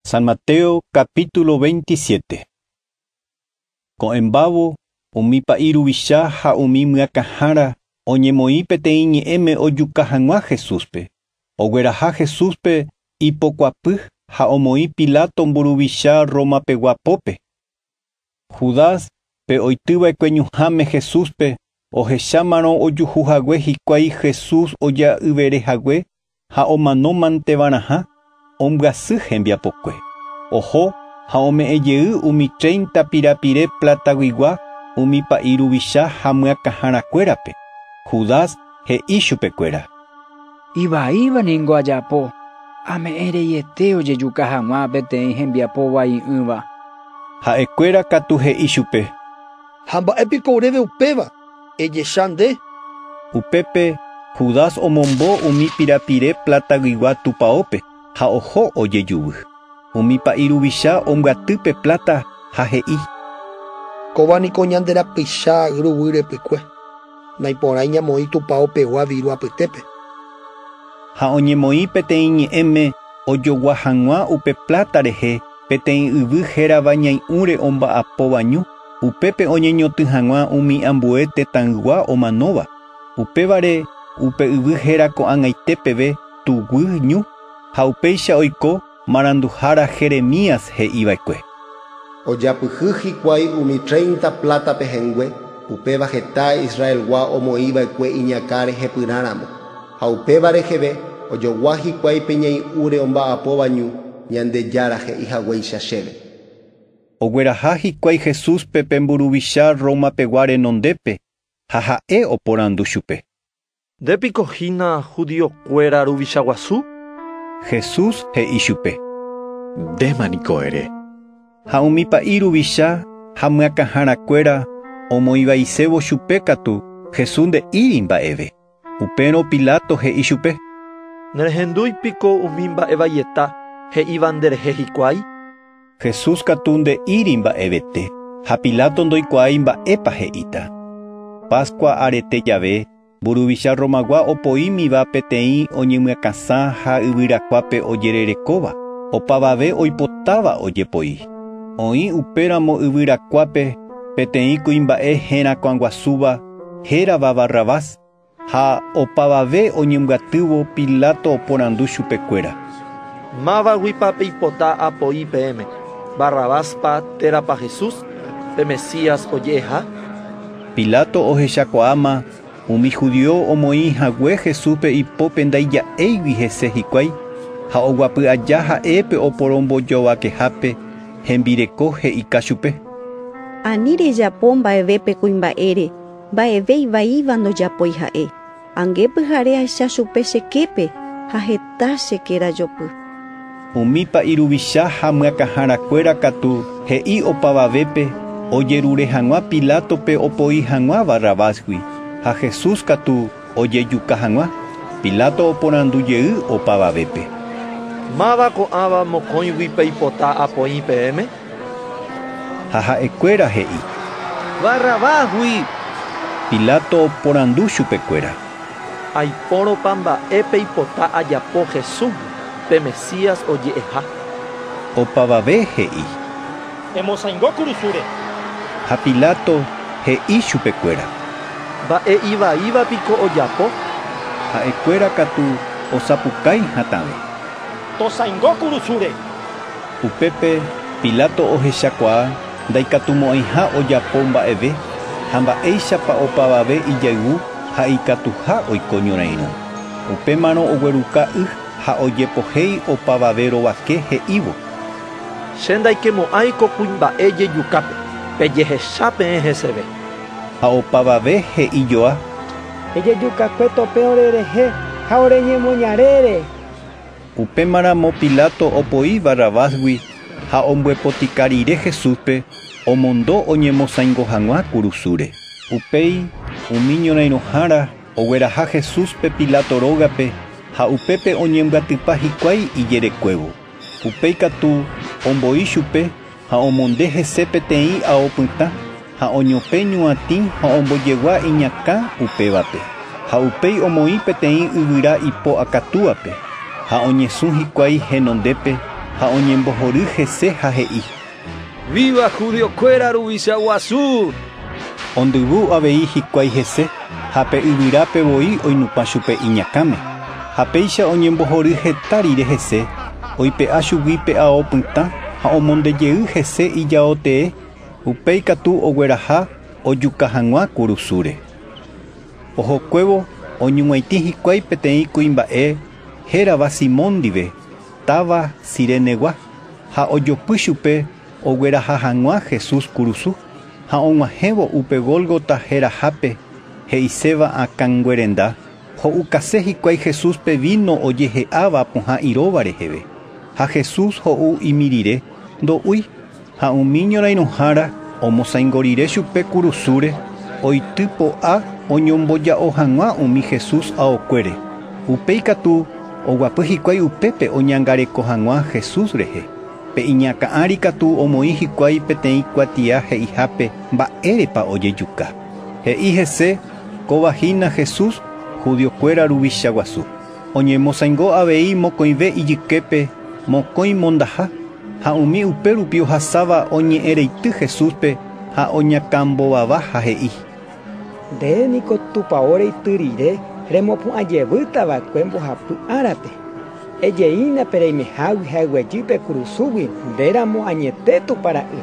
San Mateo capítulo 27 Ko'ẽmbávo, umi pa'i ruvicha ha umi myakãhára oñemoĩ peteĩ ñe'ẽme ojuka hag̃ua Jesúspe. Ogueraha Jesúspe ipokuapy ha omoĩ Pilato mburuvicha Roma pegua pópe. Judas, pe oity va'ekue ñuhãme Jesúspe, ohechámarõ ojuhu hague hikuái Jesús oja'yvere hague ha omanómanteva'erãha, ombyasy hembiapokue. Oho ha ome'ẽ jey umi treinta pirapire plataguigua umi pa'i ruvicha ha myakãharakuérape. Judas he'i chupekuéra: Ivaíva ningo ajapo, ame'ẽ reiete ojejuka hag̃ua peteĩ hembiapo vai'ỹva. Ha'ekuéra katu he'i chupe. Ha mba'e piko oréve upéva, ejecha nde. Upépe Judas omombo umi pirapire plataguigua tupaópe ha oho ojejuvi. Umi pa'i ruvicha ombyaty pe pláta ha he'i. Kóva niko ñande rapicha ruguy repykue. Naiporãi ñamoĩ tupao pegua viru apytépe. Ha oñemoĩ peteĩ ñe'ẽme ojogua hag̃ua upe pláta rehe peteĩ yvy hérava Ñai'ũre omba'apóva ñu, upépe oñeñotỹ hag̃ua umi ambue tetãygua omanóva. Upévare upe yvy héra ko'ag̃aite peve Tuguy ñu, ha upéicha oiko. Maranduhára Jeremías he'i va'ekue. Ojapyhy hikuái umi tréinta pláta pehẽngue, upéva heta Israelgua omoĩ va'ekue iñakã rehepyrã ramo. Ha upéva reheve ojogua hikuái pe ñai'ũre omba'apóva ñu, Ñandejára he'i haguéicha chéve. Ogueraha hikuái Jesúspe pe mburuvicha Roma pegua renondépe ha ha'e oporandu chupe. Nde piko hína judío kuéra ruvicha guasu? Jesús he'i chupe. Ndéma niko ere. Ha umi pa'i ruvicha ha myakãhára kuéra omoivaisévo chupe katu Jesús nde'íri mba'eve. Upérõ Pilato he'i chupe. Nerehendúi piko umi mba'e vaieta he'íva nde rehe hikuái? Jesús katu nde'íri mba'evete, ha Pilato ndoikuaái mba'épa he'íta. Pascua arete jave, mburuvicha Romagua opoímiva peteĩ oñemyakãsã ha yvyrakuápe ojererekóva, opavave oipotáva ojepoi. Oĩ upéramo yvyrakuápe peteĩ kuimba'e herakuãguasúva hérava Barrabás. Ha opavave oñembyatývo, Pilato oporandu chupekuéra. Mávaguipa peipota apoi peẽme, Barrabáspa térãpa Jesús, pe Mesías oje'eha? Pilato ohechakuaáma umi judío omoĩ hague Jesúspe ipópe ndaija'éigui hese hikuái, ha oguapy aja ha'e pe oporombojovakehápe hembireko he'ika chupe. Ani rejapo mba'eve pe kuimba'ére. Mba'eve ivaíva ndojapói ha'e. Ange pyhare ahecha chupe che képe ha heta che kéra jopy. Umi pa'i ruvicha ha myakãhára kuéra katu he'i opavavépe ojerure hag̃ua Pilátope opoi hag̃ua Barrabásgui, ha Jesús katu, Ojejuka hag̃ua, Pilato oporandu jey opavavépe. Máva ko'ãva mokõigui peipota apoĩ peẽme? Ha ha'ekuéra he'i. Barrabásgui! Pilato oporandu chupekuéra. Aipórõpa mba'e peipota ajapo Jesúsgui, pe Mesías oje'eha? Opavave he'i. Emosaingo kurusúre. Ha Pilato he'i chupekuéra. Mba'e ivaíva piko ojapo? Ha'ekuéra katu osapukái hatãve. Tosaingo kurusúre. Upépe Pilato ohechakuaa ndaikatumo'ãiha ojapo mba'eve ha mba'éichapa opavave ijayvu ha ikatuha oiko ñorairõ. Upémarõ ogueruka y ha ojepohéi opavave rovake he'ívo. Che ndaikemo'ãi ko kuimba'e jejukápe, pejehecha peẽ heseve. Ha opavave he'i joa. Ejejukakue tope orerehe ha oreñemoñarére. Upémaramo Pilato opoi Barrabásgui ha ombyepotĩka rire Jesúspe omondo oñemosaingo hag̃ua kurusúre. Upéi umi ñorãirõhára ogueraha Jesúspe Pilato rógape ha upépe oñembyatypa hikuái ijerekuévo. Upéi katu omboi chupe ha omonde hese peteĩ ao pytã ha oñopẽ ñuatĩ ha ombojegua iñakã upévape, ha upéi omoĩ peteĩ yvyra ipo akatúape, ha oñesũ hikuái henondépe ha oñembohory hese ha he'i: Víva judiokuéra Ruvicha Guasu! Ondyvu avei hikuái hese ha pe yvyrápe voi oinupã chupe iñakãme. Ha péicha oñembohory heta rire hese, oipe'a chugui pe ao pytã ha omonde jey hese ijao tee, upéi katu ogueraha ojuka hag̃ua kurusúre. Ohokuévo oñug̃uaitĩ hikuái peteĩ kuimba'e hérava Simón ndive. táva Cirenegua, ha ojopy chupe ogueraha hag̃ua Jesús kurusu, ha og̃uahẽvo upe Gólgota herahápe, he'iséva Akãnguerenda, ho'ukase hikuái Jesúspe víno ojehe'áva pohã iróva reheve. Ha Jesús ho'u imirire, ndo'úi. Ha umi ñorairõhára omosaingo rire chupe kurusúre, oity po'a oñomboja'o hag̃ua umi Jesús aokuére. Upéi katu oguapy hikuái upépe oñangareko hag̃ua Jesús rehe. Pe iñakã ári katu omoĩ hikuái peteĩ kuatia he'ihápe Mba'érepa ojejuka. He'i hese, Kóva hína Jesús, judiokuéra Ruvicha guasu. Oñemosaingo avei mokõive ijyképe mokõi mondaha, ha umi upérupi ohasáva oñe'ẽreity Jesúspe ha oñakãmbovavaha he'i: “Nde niko Tupao Reity rire remopu'ã jevýta va'ekue mbohapy árape. Ejeína pe reimehágui ha eguejy pe kurusúgui nde ramo añete Tupã Ra'y”.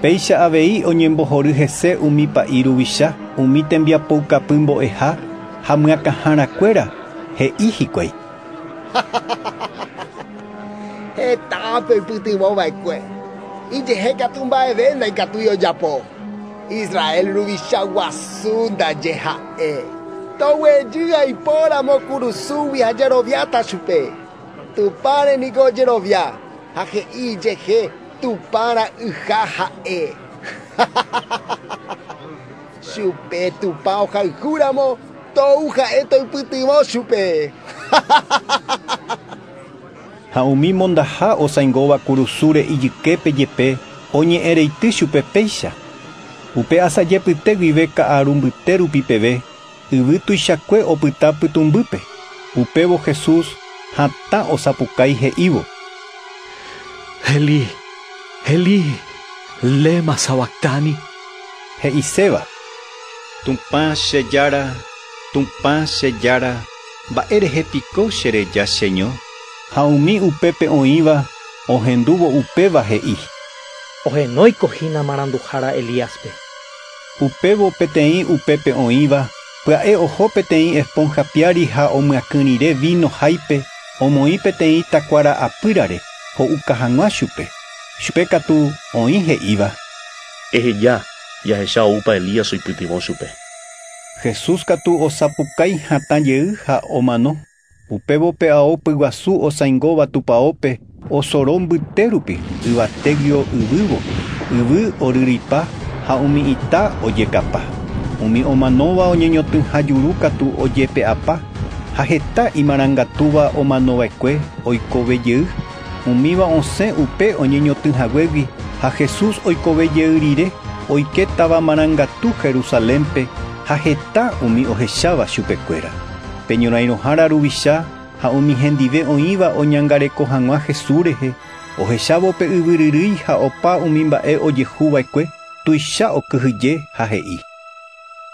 Péicha avei oñembohory hese umi pa'i ruvicha, umi tembiapoukapy mbo'eha, Ha myakãhára kuéra he'i hikuái: “Heta ápe oipytyvõ va'ekue, ijehe katu mba'eve ndaikatúi ojapo. Israel ruvicha guasu ndaje ha'e. Toguejy aipo ramo kurusúgui ha jeroviáta chupe. Tupãre niko ojerovia ha he'i ijehe Tupã Ra'yha ha'e.” Chupe Tupã ohayhu ramo, tou ha'e toipytyvõ chupe. Ha umi mondaha osãingóva kurusúre ijyképe jepe oñe'ẽreity chupe péicha. Upe asajepyte guive ka'aru mbyte rupi peve, yvy tuichakue opyta pytũmbýpe. Upévo Jesús hatã osapukái he'ívo. Elí, Elí, lema sabactani? he'iséva, Tupã che Jára, Tupã che Jára, mba'e rehe piko che reja cheño? Ha umi upépe oĩva ohendúvo upéva he'i. Ohenóiko hína maranduhára Elíaspe. Upévo peteĩ upépe oĩva pya'e oho peteĩ esponja piári ha omyakỹ rire víno háipe omoĩ peteĩ takuára apýrare ho'uka hag̃ua chupe. Chupe katu oĩ he'íva. Eheja, jahecha oúpa Elías oipytyvõ chupe. Jesús katu osapukái hatã jey ha omano. Upévo pe ao pyguasu osãingóva tupaópe osoro mbyte rupi yvatégui yvývo, yvy oryryipa ha umi ita ojekapa. Umi omanóva oñeñotỹha juru katu ojepe'apa, ha heta imarangatúva omanova'ekue oikove jey. Umíva osẽ upe oñeñotỹ haguégui ha Jesús oikove jey rire, oike táva marangatu Jerusalénpe ha heta umi ohecháva chupekuéra, pe ñorairõhára ruvicha ha umi hendive oĩva oñangareko hag̃ua Jesús rehe, ohechávo pe yvyryrýi ha opa umi mba'e ojehu va'ekue, tuicha okyhyje ha he'i: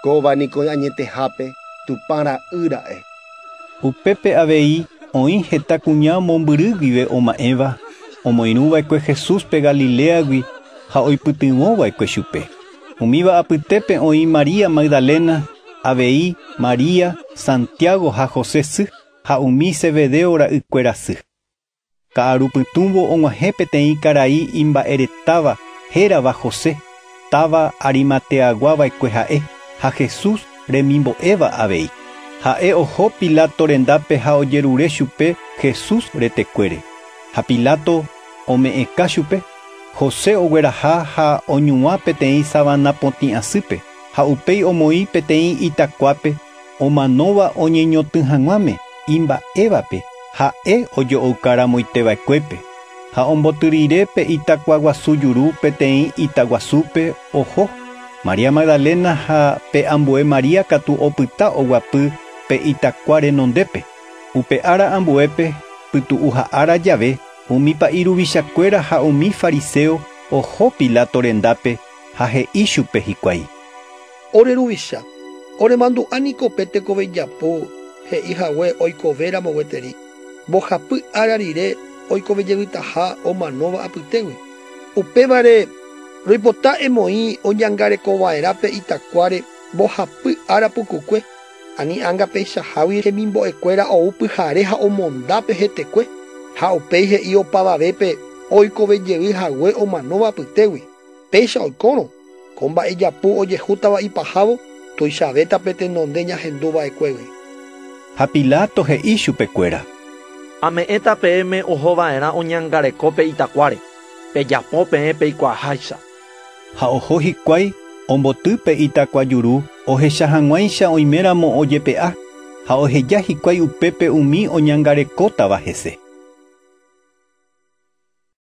“Kóva niko añetehápe Tupã Ra'y ra'e.” Upépe avei oĩ heta kuña mombyry guive oma'ẽva omoirũ va'ekue Jesúspe Galiléagui ha oipytyvõ va'ekue chupe. Umíva apytépe oĩ María Magdalena, avei María, Santiago ha José sy, ha umi Zebedeo ra'ykuéra sy. Ka'aru pytũvo og̃uahẽ peteĩ karai imba'eretáva hérava José, táva Arimateagua va'ekue ha'e, ha Jesús remimbo'éva avei. Ha'e oho Pilato rendápe ha ojerure chupe Jesús retekuére. Ha Pilato ome'ẽka chupe, José ogueraha ha oñuã peteĩ savana potĩ asýpe, ha upéi omoĩ peteĩ itakuápe Omanóva oñeñotỹ hag̃uáme imba'évape ha'e ojo'ouka ramoiteva'ekuépe, ha omboty rire pe itakua guasu juru peteĩ ita guasúpe oho. María Magdalena ha pe ambue María katu opyta oguapy pe itakua renondépe. Upe ára ambuépe, pytu'uha ára jave, umi pa'i ruvichakuéra ha umi fariseo oho Pilato rendápe ha he'i chupe hikuái: Ore ruvicha, oremandu'a niko pe tekove ijapu he'i hague oikove ramo gueteri, mbohapy ára rire oikove jevytaha omanóva apytégui. Upévare, roipota emoĩ oñangareko va'erã pe itakuáre mbohapy ára pukukue, ani ánga peichahágui hemimbo'e kuéra ou pyhare ha omonda pe hetekue, ha upéi he'i opavavépe oikove jevy hague omanóva apytégui, péicha oikórõ. Ko mba'ejapu ojehútava ipahávo tuichavéta pe tenonde ñahendu va'ekuégui. Ha Pilato he'i chupekuéra. Ame'ẽta peẽme oho va'erã oñangareko pe itakuáre, pejapo peẽ peikuaaháicha. Ha oho hikuái omboty pe itakuajuru ohecha hag̃uáicha oiméramo ojepe'a, ha oheja hikuái upépe umi oñangarekótava hese.